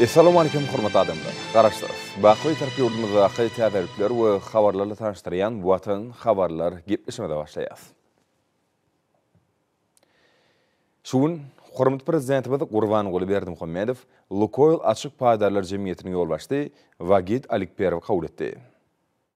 Essalamu Aleýkum hormatly adamlar! Garaşsyrys! Baky Bitarap ýurdumyzdaky täzelikler we habarlarly tanyşdyrýan Watan habarlar gepleşimize başlaýas. Şu gün hormatly Prezidentimiz Gurbanguly Berdimuhamedow Lukoýl açyk paýdarlar jemgyýetiniň ýolbaşçy Wagit Alikperowy kabul etdi.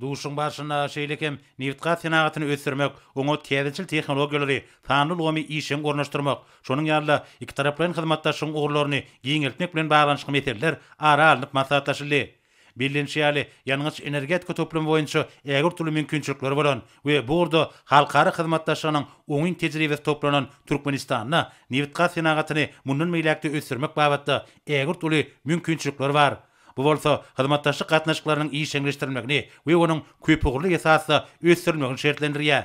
Duşuşygyň barşynda şeýle hem nebitgaz senagatyny ösdürmek, oňa täzeçil tehnologiýalary, sanly ulgamy işjeň ornaşdyrmak, şonuň ýaly-da ikitaraplaýyn hyzmatdaşlygyň ugurlaryny giňeltmek bilen baglanyşykly meseleler ara alnyp maslahatlaşyldy. Bellenişi ýaly, ýangyç-energetika toplumy boýunça ägirt uly mümkinçilikleri bolan we bu ugurda halkara hyzmatdaşlygynyň oňyn tejribesi toplanan Türkmenistanda nebitgaz senagatyny mundan beýläk-de ösdürmek babatda ägirt uly mümkinçilikler bar. Bu bolsa hyzmatdaşlyk gatnaşyklarynyň işjeňleşdirilmegini we onuň köpugurly esasda ösdürilmegini şertlendirýär.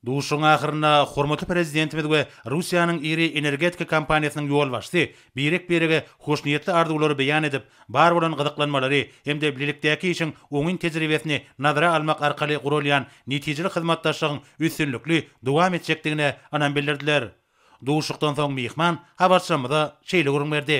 Duşuşygyň ahyrynda hormatly Prezidentimiz we Russiýanyň iri energetika kompaniýasynyň ýolbaşçysy birek-birege hoşniýetli arzuwlary beýan edip, bar bolan gyzyklanmalary hem-de bilelikdäki işiň oňyn tejribesini nazara almak arkaly guralýan netijeli hyzmatdaşlygyň üstünlikli dowam etjekdigine ynam bildirdiler. Duşuşykdan soň myhman habarçylarymyza şeýle gürrüň berdi.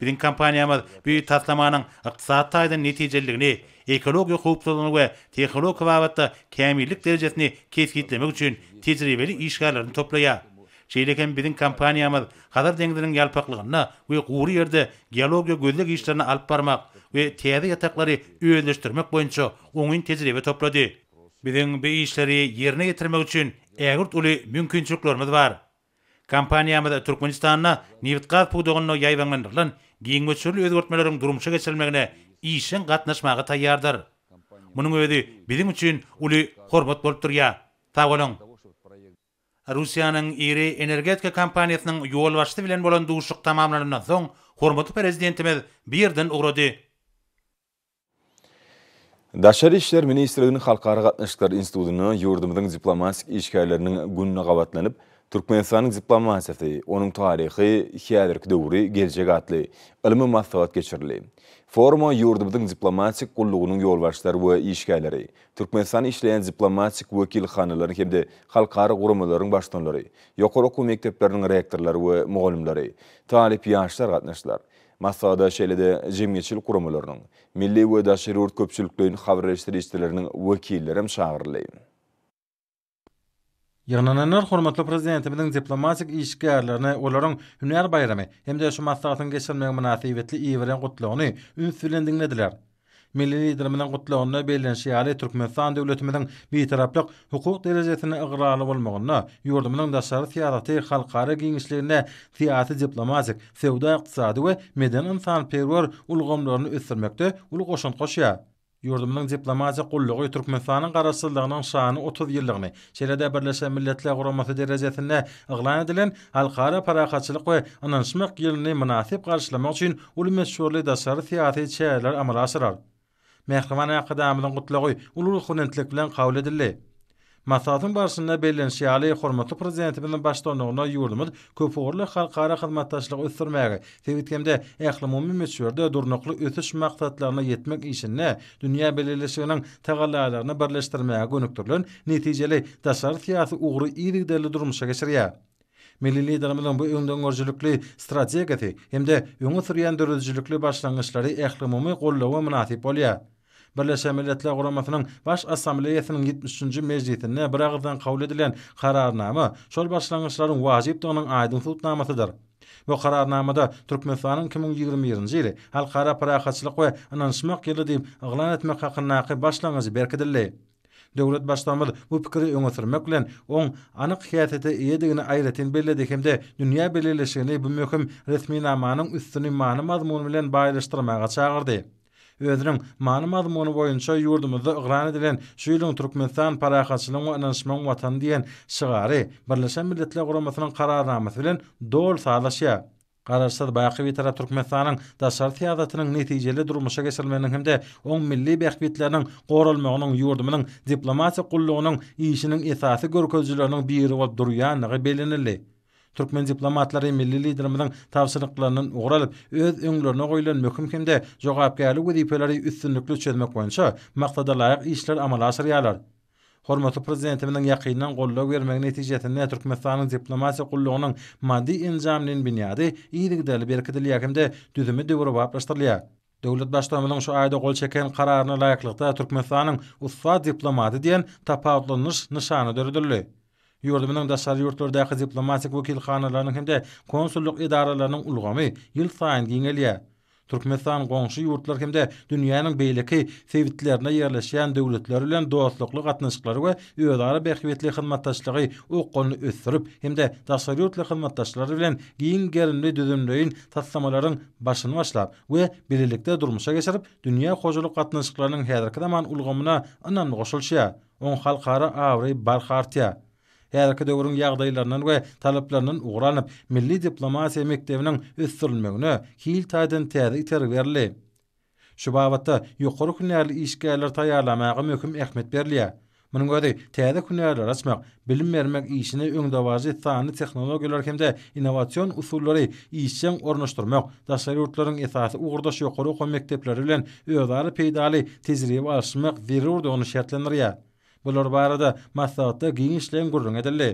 Biziň kompaniýamyz bu taslamanyň ykdysady taýdan netijeliligini, ekologiýa howpsuzlygyny we tehnologiýa babatda kämillik derejesini kesgitlemek üçin tejribeli işgärlerini toplaýar. Şeýle hem biziň kompaniýamyz Hazar deňziniň ýalpaklygynda we gury ýerde geologiýa gözleg işlerini alyp barmak we täze ýataklary özleşdirmek boýunça oňyn tejribe toplady. Biziň bu işleri ýerine ýetirmek üçin ägirt uly mümkinçiliklerimiz bar. Kompaniýamyz Türkmenistanda nebitgaz pudagynda ýaýbaňlandyrylan giň möçberli özgertmeleriň durmuşa geçirilmegine işjeň gatnaşmaga taýýardyr. Munuň özi biziň üçin uly hormat bolup durýar. Sag boluň! Russiýanyň iri energetika kompaniýasynyň ýolbaşçysy bilen bolan duşuşyk tamamlanandan soň, hormatly Prezidentimiz bu ýerden ugrady. Daşary işler ministrliginiň Halkara gatnaşyklary institutynda ýurdumyzyň diplomatik işgärleriniň gününe gabatlanyp, Türkmenistanyň diplomatiýasy, onuň taryhy, häzirki döwri, geljegi atly ylmy maslahat geçirildi. Foruma ýurdumyzyň diplomatik gullugynyň ýolbaşçylary we işgärleri, Türkmenistanda işleýän diplomatik wekilhanalaryň hem-de halkara guramalaryň baştutanlary, ýokary okuw mekdepleriniň rektorlary we mugallymlary, talyp ýaşlar gatnaşdylar. Maslahata şeýle-de jemgyýetçilik guramalarynyň, milli we daşary ýurt köpçülikleýin habarreşdirijileriniň wekilleri hem çagyryldy. Ýygnananlar hormatly Prezidentimiziň diplomatik işgärlerini olaryň hünär baýramy hem-de şu maslahatyň geçirilmegi mynasybetli iberýän gutlagyny üns bilen diňlediler. Milli Liderimiziň Gutlagynda bellenişi ýaly, Türkmenistan döwletimiziň Bitaraplyk hukuk derejesine ygrarly bolmagynda, ýurdumyzyň daşary syýasaty halkara giňişliginde syýasy-diplomatik, söwda-ykdysady we medeni-ynsanperwer ulgamlaryny ösdürmekde uly goşant goşýar. Ýurdumyzyň diplomatik gullugy Türkmenistanyň Garaşsyzlygynyň şanly otuz ýyllygyny Şeýle-de Birleşen Milletler Guramasy derejesinde yglan edilen Halkara parahatçylyk we ynanyşmak ýylyny mynasyp garşylamak üçin uly möçberli daşary syýasy çäreler amala aşyrar. Mähriban Arkadagymyzyň Gutlagy uly ruhubelentlik bilen kabul edildi. Maslahatyň barşynda bellenişi ýaly, hormatly Prezidentimiziň baştutanlygynda ýurdumyz köpugurly halkara hyzmatdaşlygy ösdürmäge, sebit hem-de ählumumy möçberde Durnukly ösüş maksatlaryna ýetmek işinde dünýä bileleşiginiň tagallalaryny birleşdirmäge gönükdirilen netijeli daşary syýasy ugry yzygiderli durmuşa geçirýär. Milli Liderimiziň bu öňdengörüjilikli strategiýasy hem-de öňe sürýän döredijilikli başlangyçlary ählumumy gollawa mynasyp bolýar. Birleşen Milletler Guramasynyň Baş Assambleýasynyň ýetmiş üçünji mejlisinde biragyzdan kabul edilen Kararnama şol başlangyçlaryň wajypdygynyň aýdyň subutnamasydyr. Bu Kararnamada Türkmenistanyň iki müň ýigrimi birinji ýyly Halkara parahatçylyk we ynanyşmak ýyly diýip yglan etmek hakyndaky başlangyjy berkidildi. Döwlet Baştutanymyz bu pikiri öňe sürmek bilen, oň anyk häsiýete eýedigini aýratyn belledi hem-de dünýä bileleşigini bu möhüm resminamanyň üstüni many-mazmun bilen baýlaşdyrmaga çagyrdy. Özüniň many-mazmuny boýunça ýurdumyzda yglan edilen şu ýylyň Türkmenistan, parahatçylygyň we ynanyşmagyň Watany diýen şygary Birleşen Milletler Guramasynyň Kararnamasy bilen doly sazlaşýar. Garaşsyz, baky Bitarap Türkmenistanyň daşary syýasatynyň netijeli durmuşa geçirilmeginiň hem-de oň milli bähbitleriniň goralmagynyň ýurdumyzyň diplomatik gullugynyň işiniň esasy görkezijileriniň biri bolup durýandygy bellenildi. Türkmen diplomatlary milli Liderimiziň tabşyryklaryndan ugur alyp, öz öňlerine goýlan möhüm hem-de jogapkärli wezipeleri üstünlikli çözmek boýunça maksadalaýyk işleri amala aşyrýarlar. Hormatly Prezidentimiziň ýakyndan goldaw bermegi netijesinde Türkmenistanyň diplomatiýa gullugynyň maddy-enjamleýin binýady yzygiderli berkidilýär hem-de düzümi döwrebaplaşdyrylýar. Döwlet Baştutanymyzyň şu aýda gol çeken Kararyna laýyklykda Türkmenistanyň Ussat diplomaty diýen tapawutlanyş nyşany döredildi. Ýurdumyzyň daşary ýurtlardaky diplomatik wekilhanalarynyň hem-de konsullyk edaralarynyň ulgamy ýylsaýyn giňelýär. Türkmenistan goňşy ýurtlar hem-de dünýäniň beýleki sebitlerinde ýerleşýän döwletler bilen dostlukly gatnaşyklary we özara bähbitli hyzmatdaşlygy okgunly ösdürip hem-de daşary ýurtly hyzmatdaşlar bilen giň gerimli düzümleýin taslamalaryň başyny başlap we bilelikde durmuşa geçirip, dünýä hojalyk gatnaşyklarynyň häzirki zaman ulgamyna ynamly goşulyşýar, oň halkara abraýy barha artýar. Häzirki döwrüň ýagdaýlaryndan we talaplaryndan ugur alnyp, milli diplomatiýa mekdebiniň ösdürilmegine hil taýdan täze itergi berildi. Şu babatda ýokary hünärli işgärleri taýýarlamaga möhüm ähmiýet berilýär. Munuň özi täze hünärleri açmak, bilim bermek işine öňdebaryjy sanly tehnologiýalary hem-de innowasion usullary işjeň ornaşdyrmak, daşary ýurtlaryň esasy ugurdaş ýokary okuw mekdepleri bilen özara peýdaly tejribe alyşmak zerurdygyny şertlendirýär. Bular barada maslahatda giňişleýin gürrüň edildi.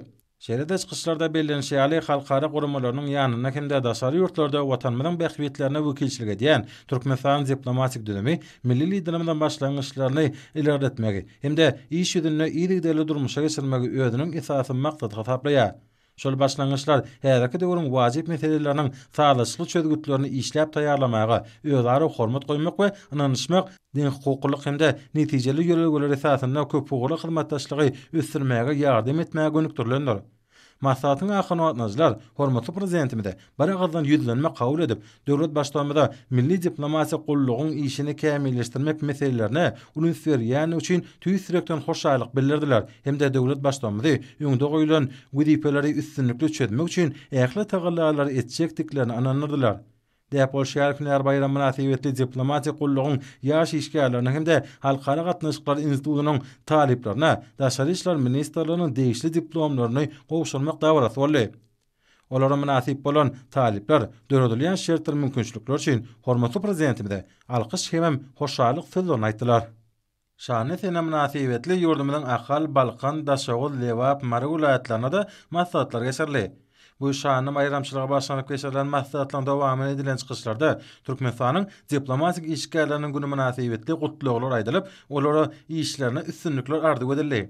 Şeýle-de çykyşlarda bellenişi ýaly, halkara guramalarynyň ýanynda hem-de daşary ýurtlarda Watanymyzyň bähbitlerine wekilçilik edýän Türkmenistanyň diplomatik düzümi milli Liderimiziň başlangyçlaryny ilerletmegi hem-de iş ýüzünde yzygiderli durmuşa geçirmegi özüniň esasy maksady hasaplaýar. Şol başlangyçlar häzirki döwrüň wajyp meseleleriniň sazlaşykly çözgütlerini işläp taýýarlamaga, özara hormat goýmak we ynanyşmak, deňhukuklylyk hem-de netijeli ýörelgeler esasynda köpugurly hyzmatdaşlygy ösdürmäge ýardam etmäge gönükdirilendir. Maslahatyň ahyrynda gatnaşyjylar hormatly Prezidentimize biragyzdan ýüzlenme kabul edip, döwlet Baştutanymyza milli diplomatiýa gullugyň işini kämilleşdirmek meselelerine uly üns berýändigi üçin tüýs ýürekden hoşallyk bildirdiler hem-de döwlet Baştutanymyzy öňde goýlan wezipeleri üstünlikli çözmek üçin ähli tagallalary etjekdiklerine ynandyrdylar. Däp bolşy ýaly-hünär baýramy mynasybetli diplomatik gullugyň ýaş işgärlerine hem-de Halkara gatnaşyklary institutynyň talyplaryna Daşary işler ministrliginiň degişli diplomlaryny gowşurmak dabarasy boldy. Olara mynasyp bolan talyplar döredilýän şertler-mümkinçilikler üçin hormatly Prezidentimize alkyş hemem hoşallyk sözlerini aýtdylar. Şanly sene mynasybetli ýurdumyzyň Ahal, Balkan, Daşoguz, Lebap, Mary welaýatlarynda-da maslahatlar geçirildi. Bu şanly baýramçylyga bagyşlanyp geçirilen maslahatlaryň dowamynda edilen çykyşlarda Türkmenistanyň diplomatik işgärleriniň güni mynasybetli gutlaglar aýdylyp, olara işlerinde üstünlikler arzuw edildi.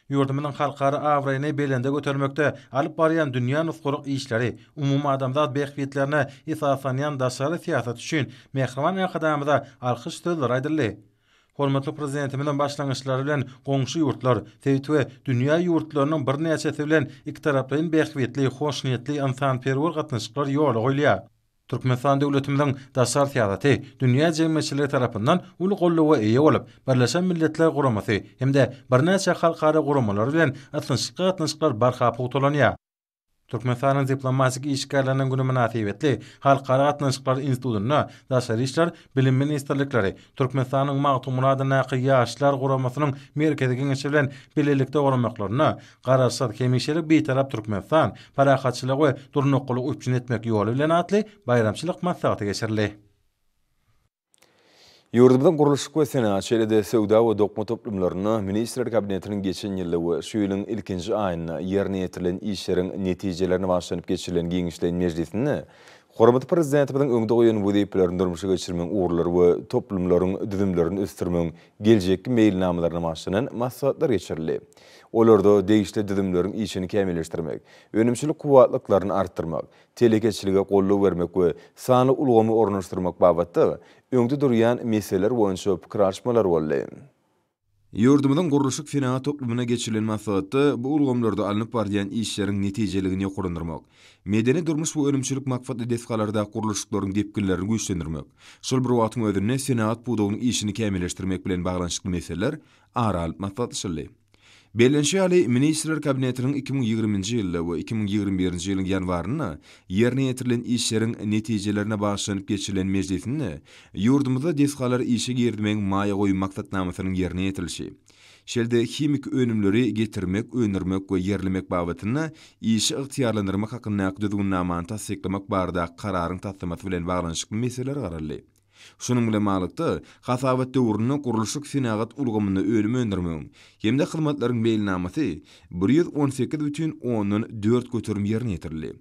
Ýurdumyzyň halkara abraýyny belende götermekde alyp barýan dünýä nusgalyk işleri, umumadamzat bähbitlerine esaslanýan daşary syýasaty üçin Mähriban Arkadagymyza alkyş sözleri aýdyldy. Hormatly Prezidentimiziň başlangyçlary bilen goňşy ýurtlar, sebit we dünýä ýurtlarynyň birnäçesi bilen ikitaraplaýyn bähbitli, hoşniýetli, ynsanperwer gatnaşyklar ýola goýulýar. Türkmenistan döwletimiziň daşary syýasaty dünýä jemgyýetçiligi tarapyndan uly goldawa eýe bolup, Birleşen Milletler Guramasy hem-de birnäçe halkara guramalary bilen ysnyşykly gatnaşyklar barha pugtalanýar. Türkmenistanyň diplomatik işgärleriniň güni mynasybetli Halkara gatnaşyklary institutynda Daşary işler, Bilim ministrlikleri, Türkmenistanyň Magtymguladyndaky Ýaşlar guramasynyň Merkezi geňeşi bilen bilelikde guramaklarynda Garaşsyz, hemişelik Bitarap Türkmenistan, parahatçylygy we durnuklylygy üpjün etmek ýoly bilen atly baýramçylyk maslahaty geçirildi. Ýurdumyzyň gurluşyk we senagat, şeýle-de söwda we dokma toplumlarynda Ministrler Kabinetiniň geçen ýylda we şu ýylyň ilkinji aýynda ýerine ýetirilen işleriň netijelerini başlanyp geçirilen giňişleýin mejlisinde hormatly Prezidentimiziň öňde goýan wezipelerini durmuşa geçirmegiň ugurlary we toplumlaryň düzümlerini ösdürmegiň geljekki meýilnamalaryna başlanan maslahatlar geçirildi. Olarda degişli düzümleriň işini kämilleşdirmek, önümçilik kuwwatlyklaryny artdyrmak, telekeçilige goldaw bermek we sanly ulgamy ornaşdyrmak babatda öňde durýan meseleler boýunça pikir alyşmalar boldy. Ýurdumyzyň gurluşyk senagat toplumyna geçirilen maslahatda bu ulgamlarda alnyp barylýan işleriň netijeligini ýokarlandyrmak, medeni-durmuş we önümçilik maksatly desgalardaky gurluşyklaryň depginlerini güýçlendirmek, şol bir wagtyň özünde senagat pudagynyň işini kämilleşdirmek bilen baglanyşykly meseleler ara alnyp maslahatlaşyldy. Bellenişi ýaly, Ministrler Kabinetiniň iki müň ýigriminji ýylda we iki müň ýigrimi birinji ýylyň ýanwarynda ýerine ýetirilen işleriň netijelerine bagyşlanyp geçirilen mejlisinde ýurdumyzda desgalary işe girizmegiň maýa goýum maksatnamasynyň ýerine ýetirilişi, şeýle-de himiki önümleri getirmek, öndürmek we ýerlemek babatynda işi ygtyýarlandyrmak hakyndaky Düzgünnamany tassyklamak baradaky Kararyň taslamasy bilen baglanyşykly meseleler garaldy. Şunuň bilen baglylykda, hasabat döwründe gurluşyk senagat ulgamynda önüm öndürmegiň hem-de hyzmatlaryň meýilnamasy bir ýüz on sekiz bütin ondan dört göterim ýerine ýetirildi.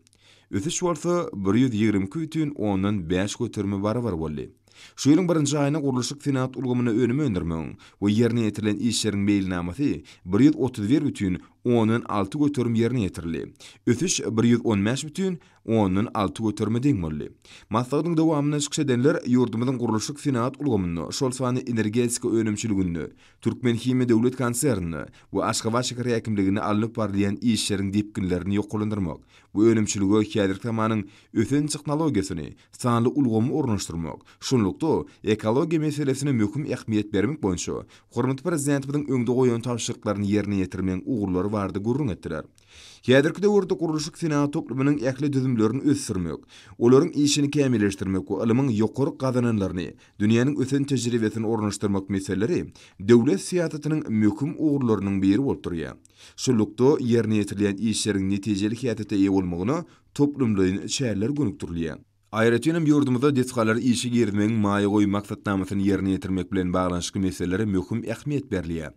Ösüş bolsa bir ýüz ýigrimi iki bütin ondan bäş göterime barabar boldy. Şu ýylyň birinji aýynda gurluşyk senagat ulgamynda önüm öndürmegiň we ýerine ýetirilen işleriň meýilnamasy bir ýüz otuz bir bütin ondan alty göterim ýerine ýetirildi, ösüş bir ýüz on bäş bütin ondan alty göterime deň boldy. Maslahatyň dowamynda çykyş edenler ýurdumyzyň gurluşyk-senagat ulgamynda, şol sanda energetika önümçiliginde, Türkmenhimiýa döwlet konserninde we Aşgabat şäher häkimliginde alnyp barylýan işleriň depginlerini ýokarlandyrmak we önümçilige häzirki zamanyň ösen tehnologiýasyny, sanly ulgamy ornaşdyrmak, şunlukda, ekologiýa meselesine möhüm ähmiýet bermek boýunça hormatly Prezidentimiziň öňde goýan tabşyryklaryny ýerine ýetirmegiň ugurlary barada gürrüň etdiler. Häzirki döwürde gurluşyk senagat toplumynyň ähli düzümlerini ösdürmek, olaryň işini kämilleşdirmek we ylmyň ýokary gazananlaryny, dünýäniň ösen tejribesini ornaşdyrmak meseleleri döwlet syýasatynyň möhüm ugurlarynyň biri bolup durýar. Şunlukda, ýerine ýetirilýän işleriň netijeli häsiýete eýe bolmagyna toplumlaýyn çäreler gönükdirilýär. Aýratyn hem ýurdumyzda desgalary işe girizmegiň maýa goýum maksatnamasyny ýerine ýetirmek bilen baglanyşykly meselelere möhüm ähmiýet berilýär.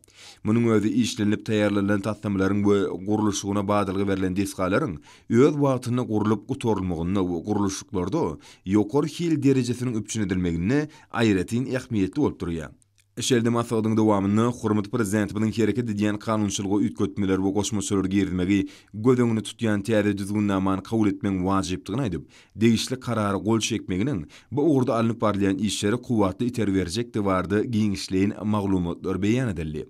Munuň özi işlenilip taýýarlanylan taslamalaryň we gurluşygyna badalga berlen desgalaryň öz wagtynda gurlup gutarylmagynda we gurluşyklarda ýokary hil derejesiniň üpjün edilmeginde aýratyn ähmiýetli bolup durýar. Şeýle-de maslahatyň dowamynda hormatly Prezidentimiziň hereket edýän kanunçylyga üýtgetmeler we goşmaçalar girizmegi göz öňünde tutýan täze düzgünnamany kabul etmegiň wajypdygyny aýdyp, degişli Karara gol çekmeginiň bu ugurda alnyp barylýan işlere kuwwatly itergi berjekdigi barada giňişleýin maglumatlar beýan edildi.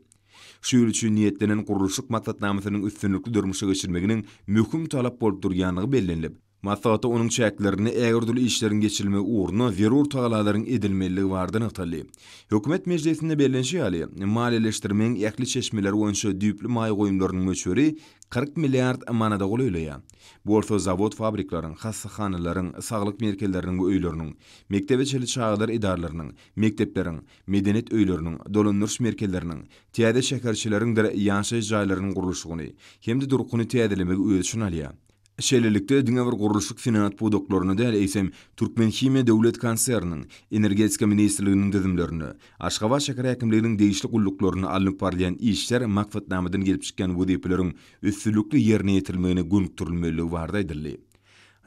Şu ýyl üçin niýetlenen gurluşyk maksatnamasynyň üstünlikli durmuşa geçirilmeginiň möhüm talap bolup durýandygy bellenilip, Maslahatda onuň çäklerinde ägirdürli işleriň geçirilmegi ugrunda zerur tagallalaryň edilmelidigi barada nygtaldy. Hökümet mejlisinde bellenişi ýaly, maliýeleşdirmegiň ähli çeşmeleri boýunça düýpli maýa goýumlarynyň möçberi kyrk milliard manada golaýlaýar. Bu bolsa zawod-fabrikleriň, hassahanalaryň, saglyk merkezleriniň we öýleriniň, mekdebe çenli çagalar edaralarynyň, mekdepleriň, medeniýet öýleriniň, dolandyryş merkezleriniň, täze şäherçeleriňdir ýaşaýyş jaýlarynyň gurluşygyny hem-de durkuny täzelemegi öz içine alýar. Şeýlelikde, diňe bir gurluşyk-senagat pudaklaryna däl, eýsem, Türkmenhimiýa döwlet konserniniň, Energetika ministrliginiň düzümlerine, Aşgabat şäher häkimliginiň degişli gulluklaryna alnyp barylýan işler maksatnamadan gelip çykýan wezipeleriň üstünlikli ýerine ýetirilmegine gönükdirilmelidigi barada aýdyldy.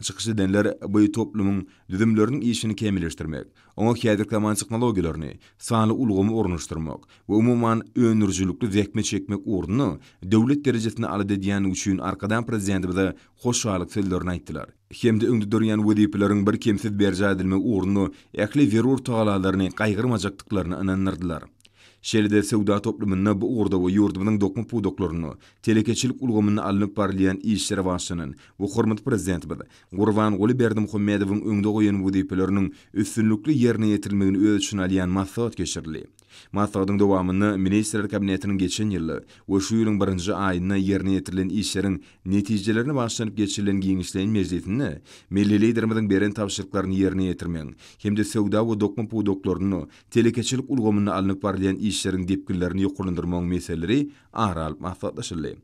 Çykyş edenler bu toplumyň düzümleriniň işini kämilleşdirmek, Oňa häzirki zaman tehnologiýalaryny, sanly ulgamy ornaşdyrmak we umuman, öndürijilikli zähmet çekmek ugrunda döwlet derejesinde alada edýändigi üçin Arkadag Prezidentimize hoşallyk sözlerini aýtdylar hem-de öňde durýan wezipeleriň birkemsiz berjaý edilmegi ugrunda ähli zerur tagallalaryny gaýgyrmajakdyklaryna ynandyrdylar. Şeýle-de söwda toplumynda bu ugurda we ýurdumyzyň dokma pudaklarynda, telekeçilik ulgamynda alnyp barylýan işlere başlanan we hormatly Prezidentimiz Gurbanguly Berdimuhamedowyň öňde goýan wezipeleriniň üstünlikli ýerine ýetirilmegini öz içine alýan maslahat geçirildi. Maslahatyň dowamynda Ministrler Kabinetiniň geçen ýylda we şu ýylyň birinji aýynda ýerine ýetirilen işleriň netijelerine bagyşlanyp geçirilen giňişleýin mejlisinde milli Liderimiziň beren tabşyryklaryny ýerine ýetirmegiň hem-de söwda we dokma pudaklarynda, telekeçilik ulgamynda alnyp barylýan işleriň depginlerini ýokarlandyrmagyň meseleleri ara alyp maslahatlaşyldy.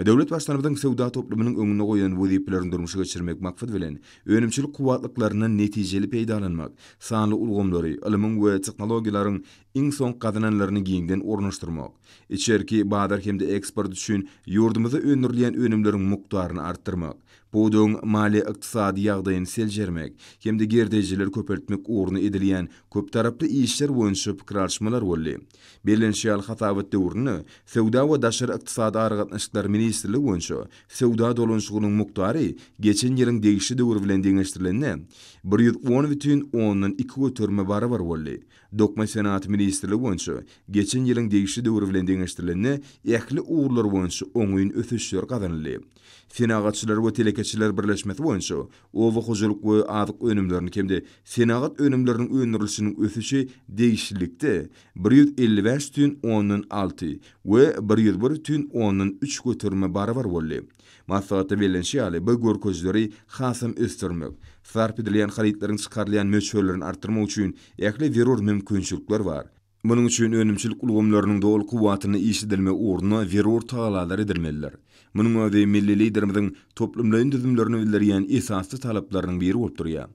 Döwlet Baştutanymyzyň söwda toplumynyň öňünde goýan wezipelerini durmuşa geçirmek maksady bilen, önümçilik kuwwatlyklaryndan netijeli peýdalanmak, sanly ulgamlary, ylmyň we tehnologiýalaryň iň soňky gazananlaryny giňden ornaşdyrmak, içerki bazar hem-de eksport üçin ýurdumyzda öndürilýän önümleriň mukdaryny artdyrmak, pudagyň maliýe-ykdysady ýagdaýyny seljermek hem-de girdejileri köpeltmek ugrunda edilýän köptaraply işler boýunça pikir alyşmalar boldy. Bellenişi ýaly, hasabat döwründe Söwda we daşary ykdysady aragatnaşyklar ministrligi boýunça söwda dolanyşygynyň mukdary geçen ýylyň degişli döwri bilen deňeşdirilende, bir ýüz on bütin ondan iki göterime barabar boldy, Dokma senagaty ministrligi boýunça geçen ýylyň degişli döwri bilen deňeşdirilende ähli ugurlar boýunça oňyn ösüşler gazanyldy, Senagatçylar we telekeçiler birleşmesi boýunça Oba hojalyk we azyk önümleriniň hem-de senagat önümleriniň öndürilişiniň ösüşi degişlilikde bir ýüz elli bäş tün ondan alty we bir ýüz bir tün ondan üç göterime barabar boldy. Maslahatda bellenişi ýaly, bu görkezileri hasam ösdürmek, sarp edilýän harytlaryň çykarylýan möçberlerini artdyrmak üçin ähli zerur mümkinçilikler bar. Munuň üçin önümçilik ulgamlarynyň doly kuwwatynda işledilmegi ugrunda zerur tagallalar edilmelidir. Munuň özi milli Liderimiziň toplumlaýyn düzümlerini bildirýän esasy talaplarynyň biri bolup durýar.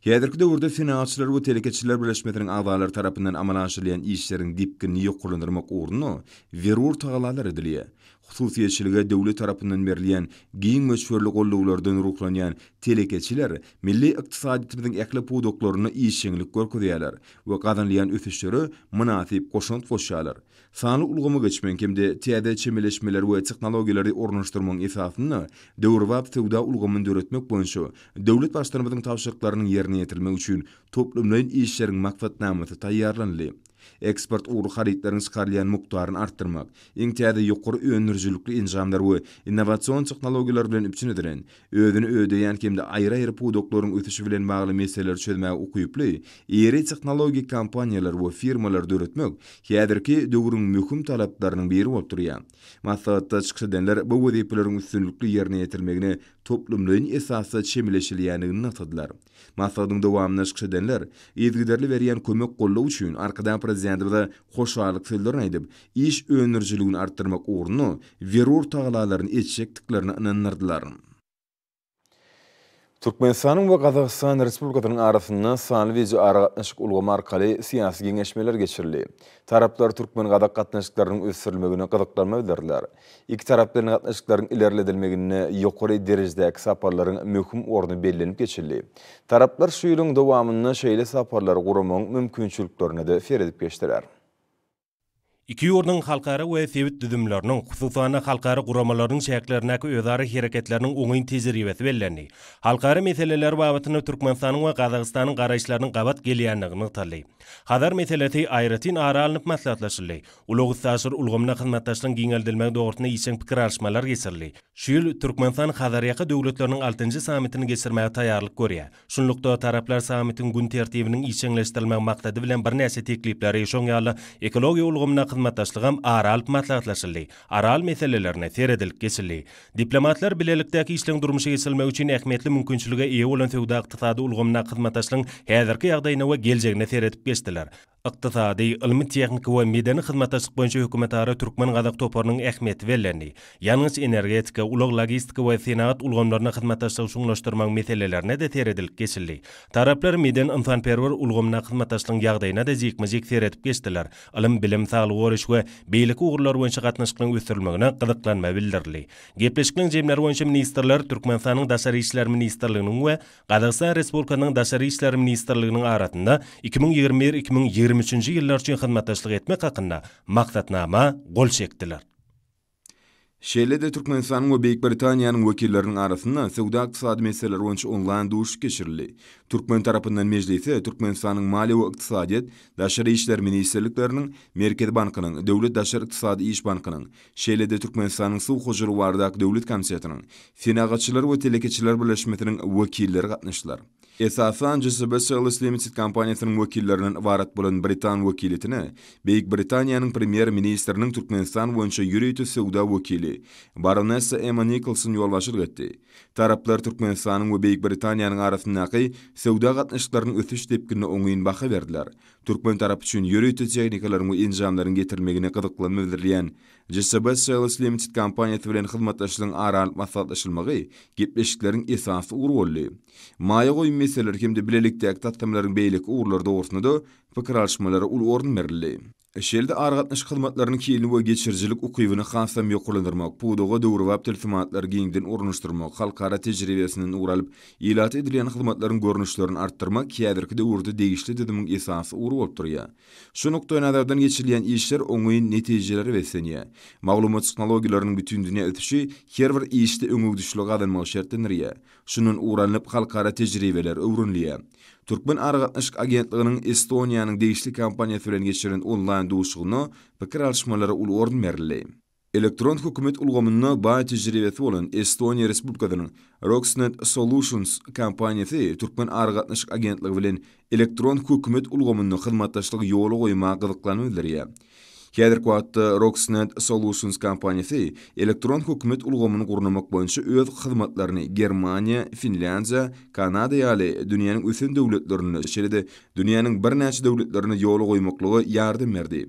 Häzirki döwürde Senagatçylar we telekeçiler birleşmesiniň agzalary tarapyndan amala aşyrylýan işleriň depginini ýokarlandyrmak ugrunda zerur tagallalar edilýär. Hususyýetçilige döwlet tarapyndan berilýän giň möçberli goldawlardan ruhlanýan telekeçiler milli ykdysadyýetimiziň ähli pudaklarynda işjeňlik görkezýärler we gazanylýan ösüşlere mynasyp goşant goşýarlar. Sanly ulgama geçmegiň hem-de täze çemeleşmeleri we tehnologiýalary ornaşdyrmagyň esasynda döwrebap söwda ulgamyny döretmek boýunça döwlet Baştutanymyzyň tabşyryklarynyň ýerine ýetirilmegi üçin toplumlaýyn işleriň maksatnamasy taýýarlanyldy. eksport ugurly harytlaryň çykarylýan mukdaryny artdyrmak, iň täze ýokary öndürijilikli enjamlar we innowasion tehnologiýalar bilen üpjün edilen, özüni ödeýän hem-de aýry-aýry pudaklaryň ösüşi bilen bagly meseleleri çözmäge ukyply iri tehnologik kompaniýalary we firmalary döretmek häzirki döwrüň möhüm talaplarynyň biri bolup durýar. Maslahatda çykyş edenler bu wezipeleriň üstünlikli ýerine ýetirilmegine toplumlaýyn esasda çemeleşilýändigini nygtadylar. Maslahatyň dowamynda çykyş edenler yzygiderli berýän kömek-goldaw üçin Arkadag Prezidentimize hoşallyk sözlerini aýdyp, iş öndürijiligini artdyrmak ugrunda zerur tagallalaryny etjekdiklerine ynandyrdylar. Türkmenistanyň we Gazagystan Respublikasynyň arasynda sanly wideoaragatnaşyk ulgamy arkaly syýasy geňeşmeler geçirildi. Taraplar türkmen-gazak gatnaşyklarynyň ösdürilmegine gyzyklanma bildirdiler. Ikitaraplaýyn gatnaşyklaryň ilerledilmeginde ýokary derejedäki saparlaryň möhüm orny bellenip geçildi. Taraplar şu ýylyň dowamynda şeýle saparlary guramagyň mümkinçiliklerine-de seredip geçdiler. Iki ýurduň halkara we sebit düzümleriniň, hususan-da, halkara guramalarynyň çäklerindäki özara hereketleriniň oňyn tejribesi bellendi. Halkara meseleleri babatynda Türkmenistanyň we Gazagystanyň garaýyşlarynyň gabat gelýändigi nygtaldy. Hazar meselesi aýratyn ara alnyp maslahatlaşyldy. Ulag-üstaşyr ulgamyna hyzmatdaşlygyň giňeldilmegi dogrusynda işjeň pikir alyşmalar geçirildi. Şu ýyl Türkmenistan Hazarýaka döwletleriniň altynjy sammitini geçirmäge taýýarlyk görýär. Şunlukda, taraplar sammitiň gün tertibiniň işjeňleşdirilmegi maksady bilen birnäçe teklipleri, şoň ýaly ekologiýa ulgamynda hyzmatdaşlygam ara alyp maslahatlaşyldy. Aral meselelerine seredilip geçildi. Diplomatlar bilelikdäki işleň durmuşa geçirilmegi üçin ähmiýetli mümkinçilige eýe bolan söwda-ykdysady ulgamyndaky hyzmatdaşlygyň häzirki ýagdaýyna we geljegine seredip geçdiler. Ykdysady, ylmy-tehniki we medeni hyzmatdaşlyk boýunça hökümetara türkmen-gazak toparynyň ähmiýeti bellendi. Ýangyç-energetika, ulag-logistika we senagat ulgamlarynda hyzmatdaşlygy çuňlaşdyrmagyň meselelerine-de seredilip geçildi. Taraplar medeni-ynsanperwer ulgamyndaky hyzmatdaşlygyň ýagdaýyna-da jikme-jik seredip geçdiler, ylym-bilim, saglygy goraýyş we beýleki ugurlar boýunça gatnaşyklaryň ösdürilmegine gyzyklanma bildirildi. Gepleşikliň jemleri boýunça ministrler Türkmenistanyň Daşary işler ministrliginiň we Gazagystan Respublikasynyň Daşary işler ministrliginiň arasynda iki müň ýigrimi bir, iki müň ýigrimi üçünji ýyllar üçin hyzmatdaşlyk etmek hakynda Maksatnama gol çekdiler. Şeýle-de Türkmenistanyň we Beýik Britaniýanyň wekilleriniň arasynda söwda-ykdysady meseleler boýunça onlaýn duşuşyk geçirildi. Türkmen tarapyndan mejlise Türkmenistanyň Maliýe we ykdysadyýet, Daşary işler ministrlikleriniň, Merkezi bankynyň, Döwlet daşary ykdysady iş bankynyň, Şeýle-de Türkmenistanyň Suw hojalygy baradaky döwlet komitetiniň, Senagatçylar we telekeçiler birleşmesiniň wekilleri gatnaşdylar. Esasan JCB Sales Limited kompaniýasynyň wekillerinden ybarat bolan britan wekiliýetine Beýik Britaniýanyň Premýer-ministriniň Türkmenistan boýunça ýörite söwda wekili baronessa Emma Nikolson ýolbaşçylyk etdi. Taraplar Türkmenistanyň we Beýik Britaniýanyň arasyndaky söwda gatnaşyklarynyň ösüş depginine oňyn baha berdiler Türkmen tarapy üçin ýörite tehnikalaryň we enjamlaryň getirilmegine gyzyklanma bildirilýän JSB Sales Limited kompaniýasy bilen hyzmatdaşlygyň ara alnyp maslahatlaşylmagy gepleşikleriň esasy ugry boldy. Maýa goýum meseleleri hem-de bilelikdäki taslamalaryň beýleki ugurlary dogrusynda-da pikir alyşmalara uly orun berildi. Şeýle-de aragatnaşyk hyzmatlarynyň hilini we geçirijilik ukybyny hasam ýokarlandyrmak, pudaga döwrebap tilsimatlary giňden ornaşdyrmak, halkara tejribesinden ugur alyp, Ilata edilýän hyzmatlaryň görnüşlerini artdyrmak häzirki döwürde degişli düzümiň esasy ugry bolup durýar. Şu nukdaýnazardan geçirilýän işler oňyn netijelere beslenýär. Maglumat tehnologiýalarynyň bütindünýä ösüşi her bir işde öňegidişligi gazanmagy şertlendirýär. Şundan ugur alnyp, halkara tejribeler öwrenilýär. Türkmen aragatnaşyk agentliginiň Estoniýanyň degişli kompaniýasy bilen geçiren onlaýn duşuşygynda pikir alyşmalara uly orun berildi. Elektron hökümet ulgamynda baý tejribesi bolan Estoniýa Respublikasynyň Roxnet Solutions kompaniýasy Türkmen aragatnaşyk agentligi bilen elektron hökümet ulgamynda hyzmatdaşlygy ýola goýmaga gyzyklanma bildirýär. Häzirki wagtda Roxnet Solutions kompaniýasy elektron hökümet ulgamyny gurnamak boýunça öz hyzmatlaryny Germaniýa, Finlýandiýa, Kanada ýaly dünýäniň ösen döwletlerine, şeýle-de dünýäniň birnäçe döwletlerine ýola goýmaklyga ýardam berdi.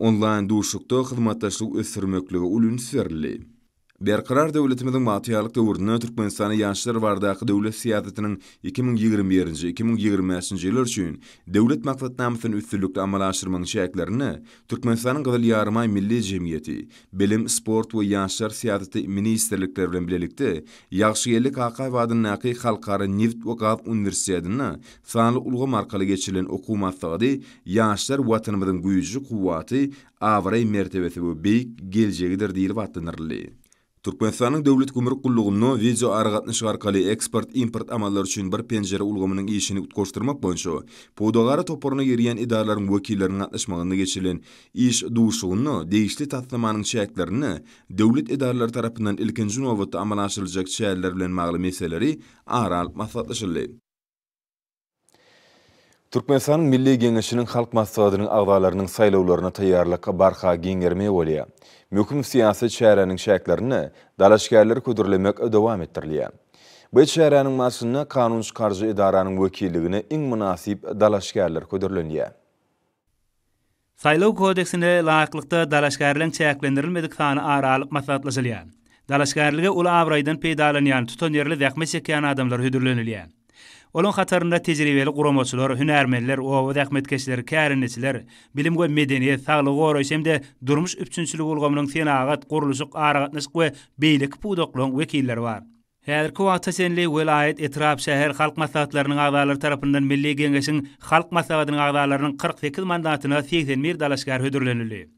Onlaýn duşuşykda hyzmatdaşlygy ösdürmeklige uly üns berildi. Berkarar döwletimiziň bagtyýarlyk döwründe Türkmenistana ýaşlar baradaky döwlet syýasatynyň iki müň ýigrimi birinji, iki müň ýigrimi bäşinji ýyllar üçin Döwlet maksatnamasyny üstünlikli amala aşyrmagyň çäklerinde Türkmenistanyň Gyzyl Ýarymaý Milli jemgyýeti, Bilim, sport we ýaşlar syýasaty ministrlikleri bilen bilelikde Ýagşygeldi Kakaýew adyndaky Halkara nebit we gaz uniwersitetinde Sanly ulgam arkaly geçirilen okuw maslahaty Ýaşlar Watanymyzyň güýji, kuwwaty, abraý-mertebesi we beýik geljegidir diýlip atlandyryldy. Türkmenistanyň Döwlet gümrük gullugynda wideoaragatnaşyk arkaly eksport-import amallary üçin bir penjire ulgamynyň işini utgaşdyrmak boýunça pudagara toparyna girýän edaralaryň wekilleriniň gatnaşmagynda geçirilen iş duşuşygynda degişli taslamanyň çäklerinde döwlet edaralary tarapyndan ilkinji nobatda amala aşyryljak çäreler bilen bagly meseleleri ara alyp maslahatlaşyldy. Türkmenistanyň Milli Geňeşiniň Halk Maslahatynyň agzalarynyň saýlawlaryna taýýarlyk barha giňermegi bolýar. Möhüm syýasy çäräniň çäklerinde dalaşgärleri hödürlemek dowam etdirilýär. Bu çäräniň barşynda kanun çykaryjy edaranyň wekilligine iň mynasyp dalaşgärler hödürlenýär. Saýlaw kodeksine laýyklykda dalaşgärleň çäklendirilmedik sany ara alyp maslahatlaşylýar. Dalaşgärlige uly abraýdan peýdalanýan, tutanýerli zähmet çekýän adamlar hödürlenilýär. Olaň hatarynda tejribeli guramaçylar, hünärmenler, oba zähmetkeşleri, kärendeçiler, bilim we medeniýet, saglygy goraýyş hem-de durmuş üpjünçiligi ulgamynyň, senagat, gurluşyk, aragatnaşyk we beýleki pudaklygyň wekilleri bar. Häzirki wagta çenli welaýat, etrap, şäher halk maslahatlarynyň agzalary tarapyndan Milli Geňeşiň Halk Maslahatynyň agzalarynyň kyrk sekiz mandatyna segsen bir dalaşgär hödürlenildi.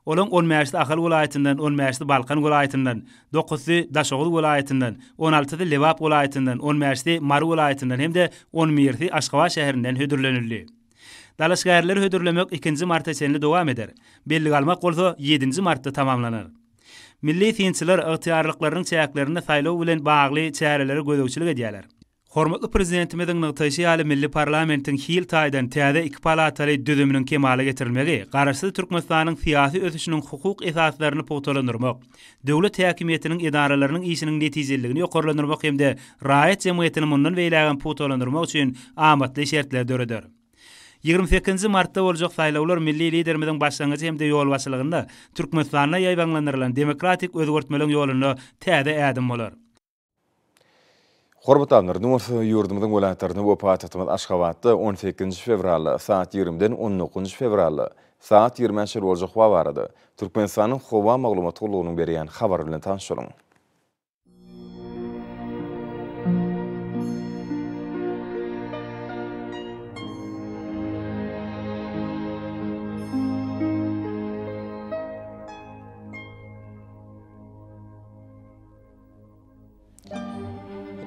Olaryň on bäşisi Ahal welaýatyndan, on bäşisi Balkan welaýatyndan, dokuzysy Daşoguz welaýatyndan, on altysy Lebap welaýatyndan, on bäşisi Mary welaýatyndan hem-de on birisi Aşgabat şäherinden hödürlenildi. Dalaşgärleri hödürlemek ikinji marta çenli dowam eder. Bellige almak bolsa ýedinji martda tamamlanar. Milli synçylar ygtyýarlyklarynyň çäklerinde saýlaw bilen bagly çärelere gözegçilik edýärler. Hormatly Prezidentimiziň nygtaýşy ýaly, milli parlamentiň hil taýdan täze iki palataly düzüminiň kemala getirilmegi Garaşsyz Türkmenistanyň syýasy ösüşiniň hukuk esaslaryny pugtalandyrmak, döwlet häkimiýetiniň edaralarynyň işiniň netijeliligini ýokarlandyrmak hem-de raýat jemgyýetini mundan beýlägem pugtalandyrmak üçin amatly şertleri döreder. Ýigrimi sekizinji martda boljak saýlawlar milli Liderimiziň başlangyjy hem-de ýolbaşçylygynda Türkmenistanda ýaýbaňlandyrylan demokratik özgertmeligiň ýolunda täze ädim bolar. Hormatly Annurymyz, ýurdumyzyň welaýatlarynda we paýtagtymyz Aşgabatda on sekizinji fewralda saat ýigrimiden on dokuzynjy fewralda saat ýigrimäçe boljak wagt arada Türkmenistanyň Howa maglumat gullugynyň berýän habary bilen tanyşylyň.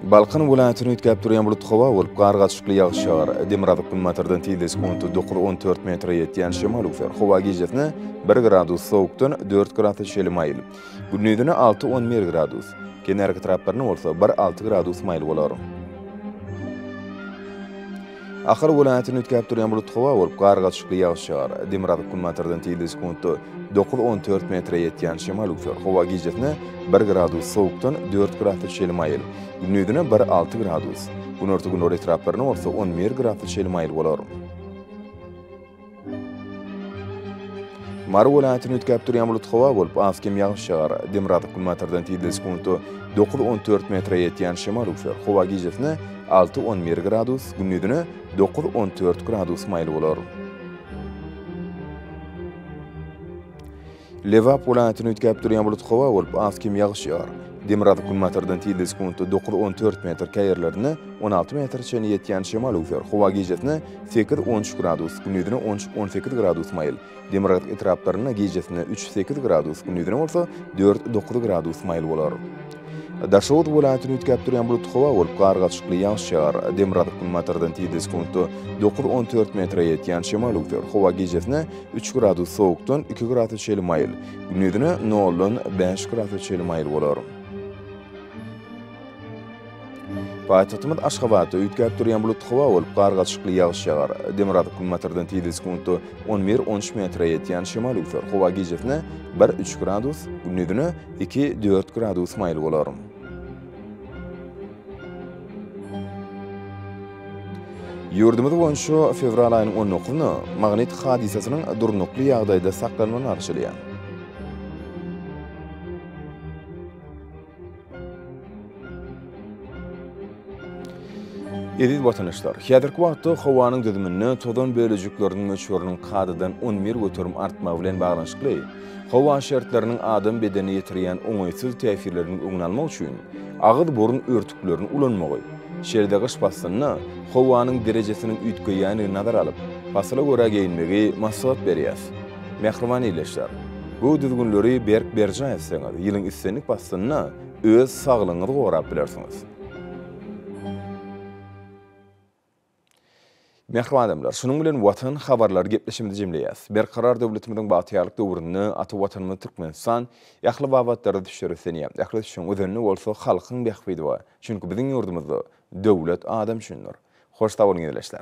Balkan welaýatyny üýtgäp durýan bulut howa bolup, gar gaçykly ýagyş ýagar. Demirgazyk günbatardan tizligi sekunta dokuz on dört metre ýetýän şemal öwser. Howa gijesine bir gradus sowukdan dört grasa çenli maýyl. Gündizine alty on bir gradus, kenarki taraplaryna bolsa bir alty gradus maýyl bolar. Ahal welaýatyny üýtgäp durýan bulut howa bolup, gargaçykly ýagyş ýagar. Demirgazyk günbatardan tizligi sekuntda dokuz on dört metre ýetýän şemal üflär. Howa gijesine bir gradus sowukdan dört gradus çenli maýyl, gündizine bir alty gradus, günorta-gündogar etraplaryna bolsa on bir gradus çenli maýyl bolar. Mary welaýatyny üýtgäp durýan bulut howa bolup, az kem ýagyş ýagar. Demirgazyk günbatardan tizligi sekunta dokuz-on dört metre ýetýän şemal üwser. Howa gijesine alty-on bir gradus, gündizine dokuz-on dört gradus maýyl bolar. Lebap welaýatyny üýtgäp durýan bulut howa bolup, az kem ýagyş ýagar. Demirgazyk günbatardan tizligi sekuntda dokuz-on dört metr, käýerlerinde on alty metre çenli ýetýän şemal öwser. Howa gijesine sekiz-on üç gradus, gündizine on üç-on sekiz gradus maýyl. Demirgazyk etraplarynda gijesine üç-sekiz gradus, gündizine bolsa dört-dokuz gradus maýyl bolar. Daşoguz welaýatyny üýtgäp durýan bulut howa bolup, gar gaçykly ýagyş ýagar. Demirgazyk günbatardan tizligi sekuntda dokuz-on dört metre ýetýän şemal öwser. Howa gijesine Üç gradus sowukdan iki gradus çenli maýyl, gündizine noldan bäş gradus çenli maýyl bolar. Paýtagtymyz Aşgabatda üýtgäp durýan bulutly howa bolup, gargaçykly ýagyş ýagar. Demirgazyk günbatardan tizligi sekuntda on bir, on üç metre ýetýän şemal üwser. Howa gijesine bir, üç gradus, gündizine iki, dört gradus maýyl bolar. Ýurdumyz boýunça fewral aýynyň on dokuzyny Magnit hadysasynyň durnukly ýagdaýda saklanmagyny garşylaýar. Eziz watandaşlar, häzirki wagtda howanyň düzüminde tozan bölejikleriniň möçberiniň kadadan on bir göterim artmagy bilen baglanyşykly, Howa şertleriniň adam bedenine ýetirýän oňaýsyz täsirlerini öňüni almak üçin agyz-burun örtüklerini ulanmagy, şeýle-de gyş paslynda howanyň derejesiniň üýtgeýändigini nazara alyp, pasyla görä geýinmegi maslahat berýäs. Mähriban ildeşler! Bu düzgünleri berk berjaý etseňiz, ýylyň islendik paslynda öz saglygyňyzy gorap bilersiňiz. Mähriban adamlar, şunuň bilen Watan habarlary gepleşigimizi jemleýäs. Berkarar döwletimiziň bagtyýarlyk döwründe ata Watanymyz Türkmenistan ähli babatlarda düşüşleri islenýär. Ähli düşüşiň özenini bolsa halkyň bähbidi we çünki biziň ýurdumyzda döwlet adam üçindir. Hoş sag boluň ildeşler.